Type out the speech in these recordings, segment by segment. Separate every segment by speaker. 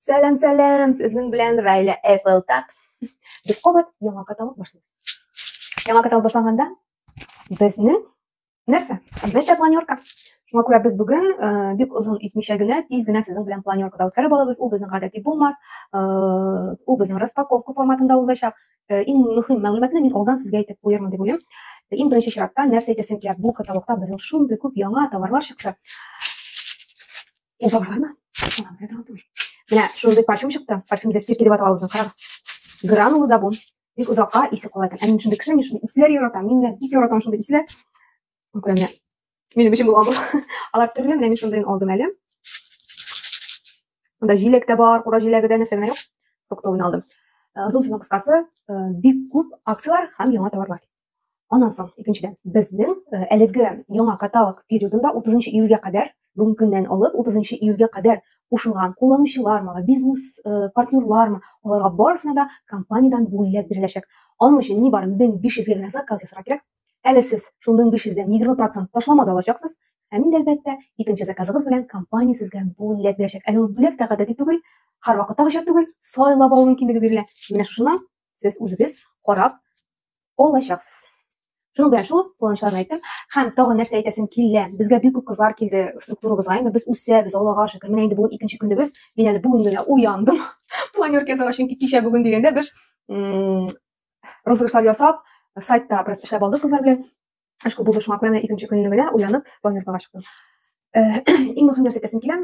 Speaker 1: Сәлам, сәлам! Сезнең белән Райля Эфелтат. Без кабат яңа каталог башлыйбыз. Яңа каталог башланганда безнең нәрсә? Әлбәттә, планерка. Шуңа күрә без бүген э, бик озын итмичә генә, тиз генә сезнең белән планеркада үткәреп алабыз. Ул безнең гадәти булмас. Э, ул безнең распаковка форматында узачак. Э, иң мөһим мәгълүматны мин алдан сезгә әйтеп куярмын дип уйлыйм. Иң беренче чиратта нәрсә әйтәсем килә? Бу каталогта безнең шундый күп яңа товарлар чыкты. Ул табармы? Менә шундый парфюм чыкты. Парфюм дә стирки дип атала үзен. Карагыз. Гранула да бу. Бик озакка исе кала икән. Ә мин шундый кеше, мин шундый исләр яратам. Мин дә бик яратам шундый исләр. Күрә менә. Минем өчен булган бу. Алар төрле, менә мин шундыйын алдым әле. Монда җиләк тә бар, кура җиләге дә, нәрсә генә юк. Фруктовыйны алдым. Озын сүзнең кыскасы, бик күп акцияләр һәм яңа товарлар. Аннан соң, икенчедән, безнең э, әлеге яңа каталог периодында 30 июльгә кадәр, бүгенге көннән алып 30 июльгә кадәр кушылган кулланучылармы, бизнес э, партнерлармы, аларга барысына да компаниядән бүләк биреләчәк. Аның өчен ни бары 1500 генә заказ ясарга кирәк. Әле сез шул 1500-дән 20% ташлама да алачаксыз. Һәм инде әлбәттә, икенче заказыгыз белән компания сезгә бүләк бирәчәк. Әле ул бүләк тә гадәти түгел, һәрвакыттагыча түгел, сайлап алу мөмкинлеге бирелә. Менә шушыннан сез үзегез карап алачаксыз шуның белән шул куанычларны әйттем һәм тагын нәрсә әйтәсем килә безгә бик күп кызлар килде структурабызга инде без үсәбез аллага шөкер менә инде бүген икенче көнебез мин әле бүген генә уяндым планерка ясауга чөнки кичә бүген дигәндә без розыгрышлар ясап сайтта бераз эшләп алдык кызлар белән Ышкы булды шуңа күрә менә икенче көнне генә уянып планеркага чыктым. Э, иң мөһим нәрсә әйтәсем килә,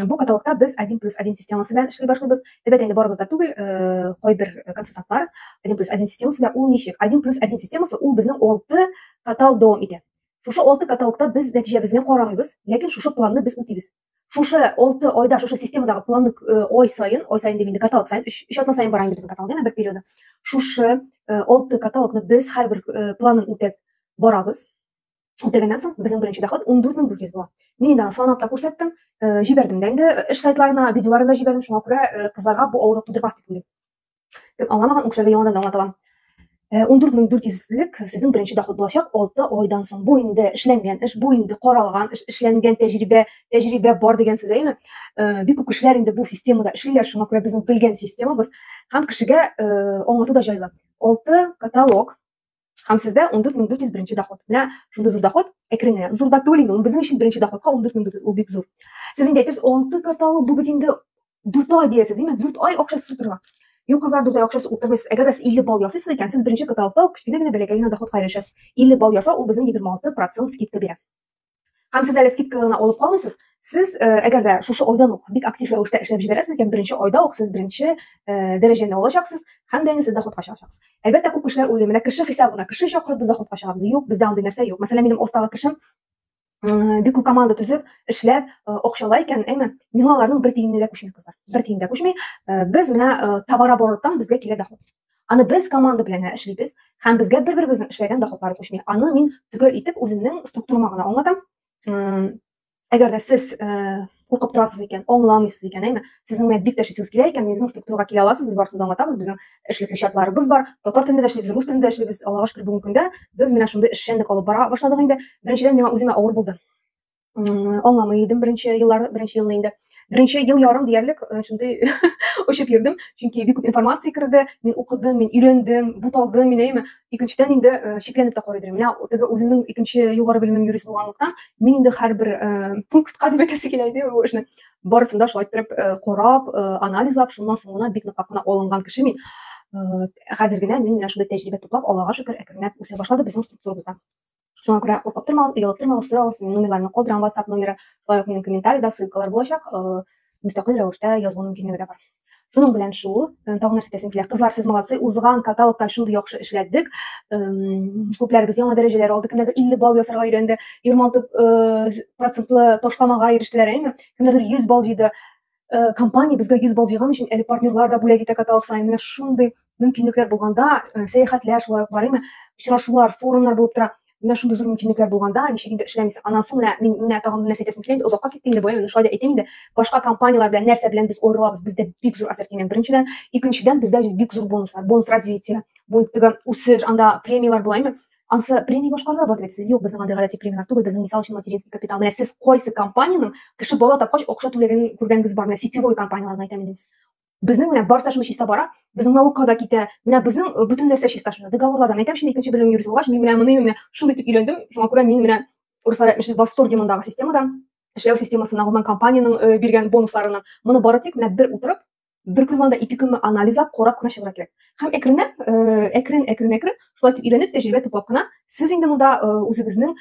Speaker 1: бу каталогта без 1 плюс 1 системасы белән эшли башлыйбыз. Әлбәттә инде барыбыз да түгел, э, кайбер консультантлар 1 плюс 1 системасы белән ул ничек? 1 плюс 1 системасы ул безнең 6 каталог дәвам итә. Шушы 6 каталогта без нәтиҗәбезне карамыйбыз, ләкин шушы планны без үтибез. шушы алты айда шушы системадагы планны э, ай сайын ай сайын дим инде каталог сайын өч өч атна сайын бара инде безнең каталог әмма бер периоды шушы э, алты каталогны без һәрбер э, планын үтәп барабыз үтәгәннән соң безнең беренче доход он дүрт мең дүрт йөз була мин инде аны санап та күрсәттем җибәрдем дә инде эш сайтларына видеоларын да җибәрдем шуңа күрә кызларга бу авырлык тудырмас дип уйлыйм Кем аңламаган, ул кешеләргә яңадан аңлатам. 14 мең 400лек сезнең беренче доход булачак 6 айдан соң. Бу инде эшләнгән эш, бу инде каралган эш, эшләнгән тәҗрибә, тәҗрибә бар дигән сүз әйме? Бик күп кешеләр инде бу системада эшлиләр, шуңа күрә безнең белгән системабыз һәм кешегә аңлату да җайлы. 6 каталог Һәм сездә 14401 доход. Менә шундый зур доход, әкрен генә. Зур да түгел инде, ул безнең өчен беренче доходка 14400 ул бик зур. Сез инде әйтерсез, 6 квартал бу бит инде 4 ай диясез, димме? 4 ай акчасы утырма. Юк, кызлар, 4 ай акчасы утырмыйсыз. Әгәр дә сез 50 балл ясыйсыз икән, сез беренче кварталда кечкенә генә бәләкәй генә доходка ирешәсез. 50 балл ясау ул безнең 26% скидка бирә. Һәм сез әле скидкаларны алып калмыйсыз. Сез, э, әгәр дә шушы айдан ук бик актив рәвештә эшләп җибәрәсез икән, беренче айда ук сез беренче э, дәрәҗәне алачаксыз һәм дә инде сез доходка чыгачаксыз. Әлбәттә, күп кешеләр уйлый, менә кеше хисабына, кеше чакырып без доходка чыгабыз. Юк, бездә андый нәрсә юк. Мәсәлән, минем остагы кешем э, бик күп команда төзеп, эшләп, акчалай икән, әйме, миңа аларның бер тиененә дә күчми кызлар. Бер тиен дә күчми. Без менә товарообороттан безгә килә доход. Аны без команда белән генә эшлибез һәм безгә бер-беребезнең эшләгән доходлары күчми. Аны мин төгәл итеп үземнең структурама гына аңлатам. Әгәр дә сез куркып торасыз икән, аңламыйсыз икән, әйме? Сезнең менә бик тәшисез килә икән, безнең структурага килә аласыз, без барысын да аңлатабыз. Безнең эшлекле чатларыбыз бар. Татар телендә дә эшлибез, рус телендә дә эшлибез. Аллага шөкер, бүгенге көндә без менә шундый эшчәнлек алып бара башладык инде. Беренчедән миңа үземә авыр булды. аңламый идем беренче еллар беренче елны инде беренче ел ярым диярлек э, шундый очып йөрдем чөнки бик күп информация керде мин укыдым мин өйрәндем буталдым мин әйме икенчедән инде э, шикләнеп тә карый идем менә теге үземнең икенче югары белемем юрист булганлыктан мин инде һәрбер э, пунктка дип әйтәсе килә иде бу эшне барысын да шулай иттереп карап анализлап шуннан соң гына бик ныклап кына алынган кеше мин хәзер генә мин менә шундый тәҗрибә туплап аллага шөкер әкренләп үсә башлады безнең структурабызда Шуңа күрә куркып тормагыз, оялып тормагыз, сорагыз. Мин номерларны калдырам, WhatsApp номеры, шулай ук минем комментарида ссылкалар булачак. Э, мөстәкыйль рәвештә язу мөмкинлеге дә бар. Шуның белән шул, э, тагын нәрсә әйтәсем килә. Кызлар, сез молодцы, узган каталогта шундый яхшы эшләдек. Эм, Күпләребез яңа дәрәҗәләр алды, кемнәрдер 50 балл ясарга өйрәнде, 26 э, процентлы ташламага ирештеләр, әйме? Кемнәрдер 100 балл җыйды. Э, компания безгә 100 балл җыйган өчен әле партнерлар да бүләк итә каталог саен. Менә шундый мөмкинлекләр булганда, э, сәяхәтләр шулай ук барыймы, очрашулар, форумнар булып тора. Менә шундый зур мөмкинлекләр булганда, ничек инде эшләмисең. Аннан соң менә мин менә тагын нәрсә әйтәсем килә инде, озакка китте инде бу, менә шулай да әйтәм инде. Башка компанияләр белән нәрсә белән без аерылабыз? Бездә бик зур ассортимент беренчедән, икенчедән бездә бик зур бонуслар, бонус развития, бонус үсеш, анда премияләр була, Ансы премия башкарды, бар дип юк, безнең андый гадәти премияләр түгел, безнең мисал өчен материнский капитал. Менә сез кайсы компаниянең кеше бала тапкач акча түләген күргәнегез бар? Менә сетевой компанияләрне әйтәм инде. Безнең менә барса шуны чиста бара, безнең наукага да китә. Менә безнең э, бөтен нәрсә чиста шунда. Договорларда әйтәм шуны икенче белем юрист булгач, мин менә моны менә шундый итеп өйрәндем. Шуңа күрә мин менә руслар әйтмешли восторге мондагы системадан, эшләү системасына, гомумән компаниянең э, биргән бонусларының. Моны бары тик менә бер утырып бер көн алда ике көнме анализлап карап кына чыгырга кирәк һәм әкренләп әкрен әкрен әкрен шулай итеп өйрәнеп тәҗрибә туплап кына сез инде монда үзегезнең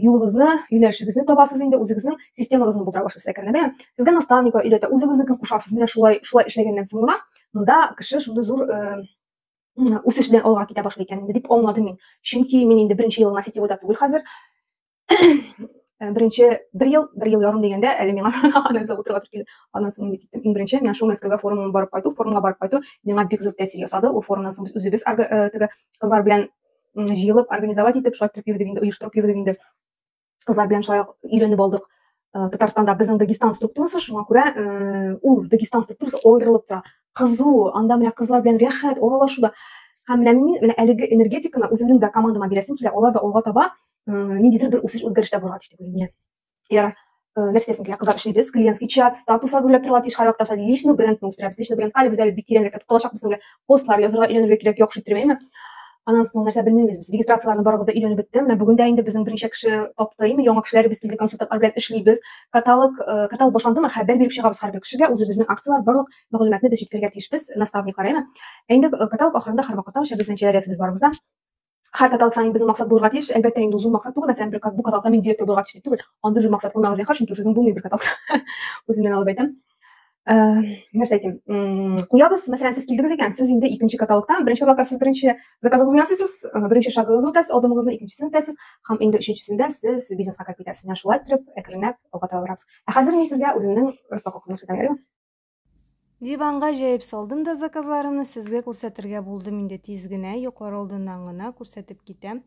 Speaker 1: юлыгызны юнәлешегезне табасыз инде үзегезнең системагызны булдыра башлыйсыз әкренләп сезгә наставниклар өйрәтә үзегезне кем кушасыз менә шулай шулай эшләгәннән соң гына монда кеше шундый зур үсеш белән алга китә башлый икән инде дип аңладым мин чөнки мин инде беренче елына сетевойда түгел хәзер Э, беренче бер ел бер ел ярым дигәндә әле миңа аннан соң утырып килде аннан соң мин киттем иң беренче миңа шул мәскәүгә форумга барып кайту форумга барып кайту миңа бик зур тәэсир ясады ул форумнан соң без үзебез э, теге кызлар белән җыелып организовать итеп шулай итеп йөрдек инде оештырып йөрдек инде кызлар белән шулай өйрәнеп алдык э, татарстанда безнең дагестан структурасы шуңа күрә ул дагестан структурасы аерылып тора кызу анда менә кызлар белән рәхәт аралашуда һәм менә мин менә әлеге энергетиканы үземнең дә командама бирәсем килә алар да алга таба ниндидер бер үсеш үзгәрештә булырга тиеш дип уйлыйм мин егәр нәрсә итәсең килә кызлар эшлибез клиентский чат статуслар гөрләп торырга тиеш һәрвакыт аша личный брендны үстерәбез личный брендка әле без әле бик тирәнрәк кертеп калачакбыз әле постлар язырга өйрәнергә кирәк яхшы иттермәйме анан соң нәрсә белмибез без регистрацияләрне барыгыз да өйрәнеп беттем менә бүген дә инде безнең берничә кеше тапты име яңа кешеләр без килде консультантлар белән эшлибез каталог каталог башландымы хәбәр биреп чыгабыз һәрбер кешегә үзебезнең акциялар барлык мәгълүматны без җиткерергә тиешбез наставниклар әйме инде каталог ахырында һәрвакытта аша безнең җәйләр язабыз барыбыз да Хәр каталык саен безнең максат булырга тиеш. Әлбәттә, инде зур максат түгел, мәсәлән, бер кат, бу каталыкта мин директор булырга тиеш дип түгел. Андый зур максат куймагыз, зинһар, чөнки сүзең булмый бер каталыкта. Үземнән алып әйтәм. Ә, нәрсә әйтим? Куябыз, мәсәлән, сез килдегез икән, сез инде икенче каталыкта, беренче каталыкта сез беренче заказыгызны ясыйсыз, беренче шагыгызны үтәсез, адымыгызны икенчесен үтәсез, һәм инде өченчесендә сез бизнеска кереп китәсез. Менә шулай итеп, әкренләп алга таба барабыз. Ә хәзер мин сезгә үземнең распаковкамны күрсәтәм, әйдәме?
Speaker 2: Диванга җәеп салдым да заказларымны сезгә күрсәтергә булдым инде тиз генә, йоклар алдыннан гына күрсәтеп китәм.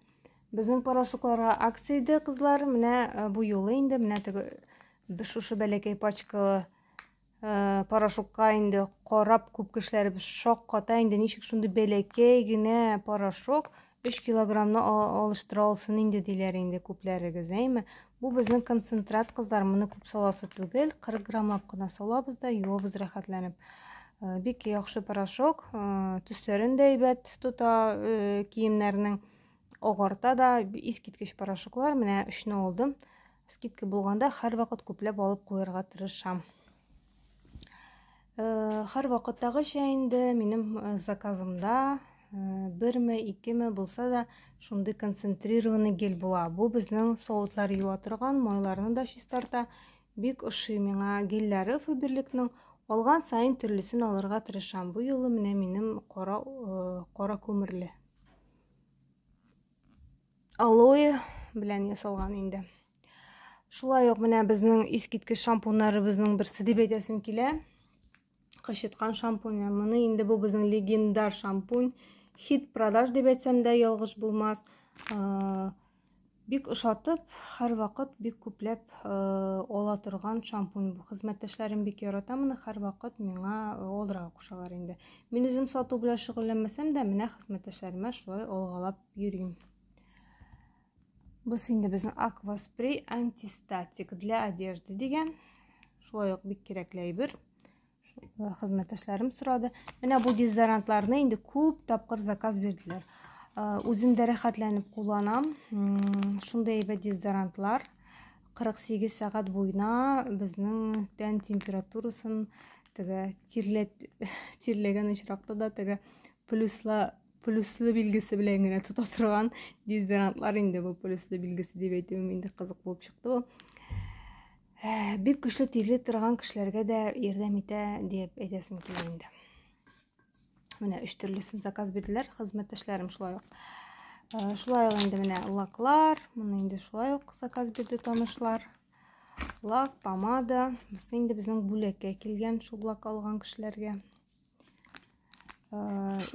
Speaker 2: Безнең порошокларга акция иде, кызлар. Менә э, бу юлы инде менә теге шушы бәләкәй пачкалы э, порошокка инде карап күп кешеләребез шакката инде ничек шундый бәләкәй генә порошок Өч килограммны алыштыра алсын инде, диләр инде күпләрегез, әйме? Бу безнең концентрат, кызлар, моны күп саласы түгел, 40 граммлап кына салабыз да, юабыз рәхәтләнеп. Э, бик яхшы порошок, э, төсләрен дә әйбәт тота э, киемнәрнең, агарта да, искиткеч порошоклар, менә өчне алдым. Скидка булганда һәрвакыт күпләп алып куярга тырышам. Хар вакыттагы чәй инде минем заказымда берме, икеме булса да шундый концентрированный гель була. Бу безнең савытлар юа торган, майларны да чистарта. Бик ошый миңа гельләре Фаберликның. Алган саен төрлесен алырга тырышам. Бу юлы менә минем кара кара күмерле. Алоэ белән ясалган инде. Шулай ук менә безнең искиткеч шампуньнарыбызның берсе дип әйтәсем килә. Кычыткан шампунь. Моны инде бу безнең легендар шампунь. Хит продаж дип әйтсәм дә ялгыш булмас. Бик ошатып, һәрвакыт бик күпләп ала торган шампунь бу. Хезмәттәшләрем бик ярата моны, һәрвакыт миңа алырга кушалар инде. Мин үзем сату белән шөгыльләнмәсәм дә, менә хезмәттәшләремә шулай алгалап йөрим. Без инде безнең акваспрей антистатик для одежды дигән. Шулай ук бик кирәкле әйбер. Э, хезмәттәшләрем сорады. Менә бу дезодорантларны инде күп тапкыр заказ бирделәр. Э, үзем дә рәхәтләнеп кулланам. Шундый әйбәт дезодорантлар 48 сәгать буена безнең тән температурасын теге тирләт тирләгән очракта да теге плюсла плюслы билгесе белән генә тота торган дезодорантлар инде бу плюслы билгесе дип әйтүем инде кызык булып чыкты бу э, бик көчле тирли торган кешеләргә дә ярдәм итә дип әйтәсем килә инде менә өч төрлесен заказ бирделәр хезмәттәшләрем шулай ук э, шулай ук инде менә лаклар моны инде шулай ук заказ бирде танышлар лак помада бусы инде безнең бүләккә килгән шул лак алган кешеләргә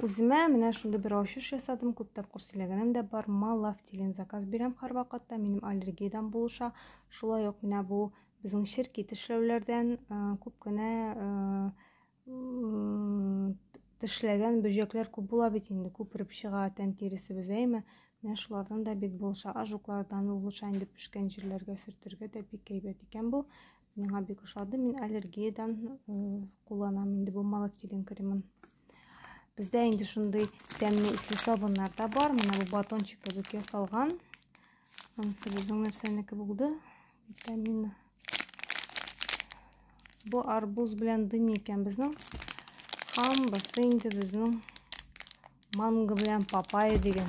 Speaker 2: үземә менә шундый бер ачыш ясадым күп тапкыр сөйләгәнем дә бар малав дигән заказ бирәм һәрвакытта минем аллергиядән булыша шулай ук менә бу безнең черки тешләүләрдән күп кенә тешләгән бөҗәкләр күп була бит инде күпереп чыга тән тиресебез әйме менә шулардан да бик булыша ажуклардан булыша инде пешкән җирләргә сөртергә дә бик әйбәт икән бу Миңа бик ошады. Мин аллергиядән кулланам инде бу малактилин кремын. Бездә инде шундый тәмле исле сабыннар да бар. Менә бу батончик кебек ясалган. Анысы безнең нәрсәнеке булды? Витамин. Бу арбуз белән дыни икән безнең. Һәм бусы инде безнең манго белән папайя дигән.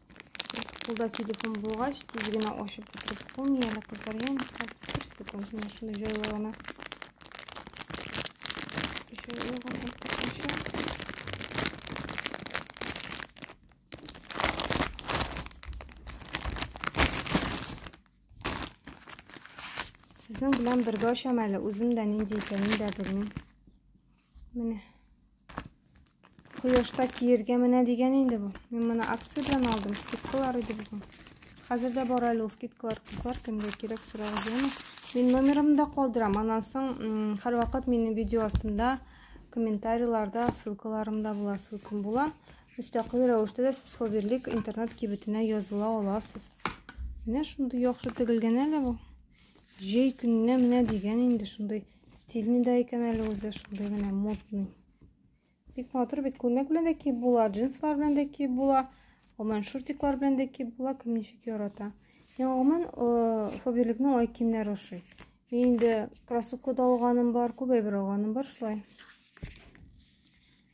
Speaker 2: Кулда телефон булгач, тиз генә ачып бетереп булмый әле кызлар. Ям, бер секунд, менә шуны җайлы гына. Җайлы гына Сезнең белән бергә ачам әле, үзем дә нинди икәнен дә белмим. Менә. Кояшта киергә менә дигән инде бу. Мин моны акция белән алдым. Скидкалар иде безнең. Хәзер дә бар әле ул скидкалар кызлар, кемгә кирәк сорагыз яме. Мин номерымны да калдырам. Аннан соң һәрвакыт минем видео астында комментарийларда ссылкаларым да була, ссылкам була. Мөстәкыйль рәвештә дә сез Ховерлик интернет кибетенә языла аласыз. Менә шундый яхшы тегелгән әле бу. Җәй көненә менә дигән инде шундый Стильный да икән әле үзе, шундый генә модный. Бик матур бит, күлмәк белән дә киеп була, джинслар белән дә киеп була, гомумән шортиклар белән дә киеп була, кем ничек ярата. Миңа гомумән э, Фаберликның ай киемнәре ошый. Мин инде кроссовка да алганым бар, күп әйбер алганым бар шулай.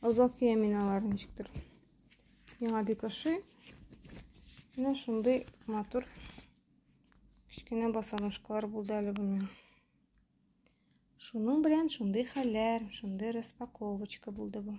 Speaker 2: Озак киям мин аларны ничектер. Миңа бик ошый. Менә шундый матур кечкенә босоножкалар булды әле бу миңа. Шуның белән шундый хәлләр, шундый распаковочка булды бу.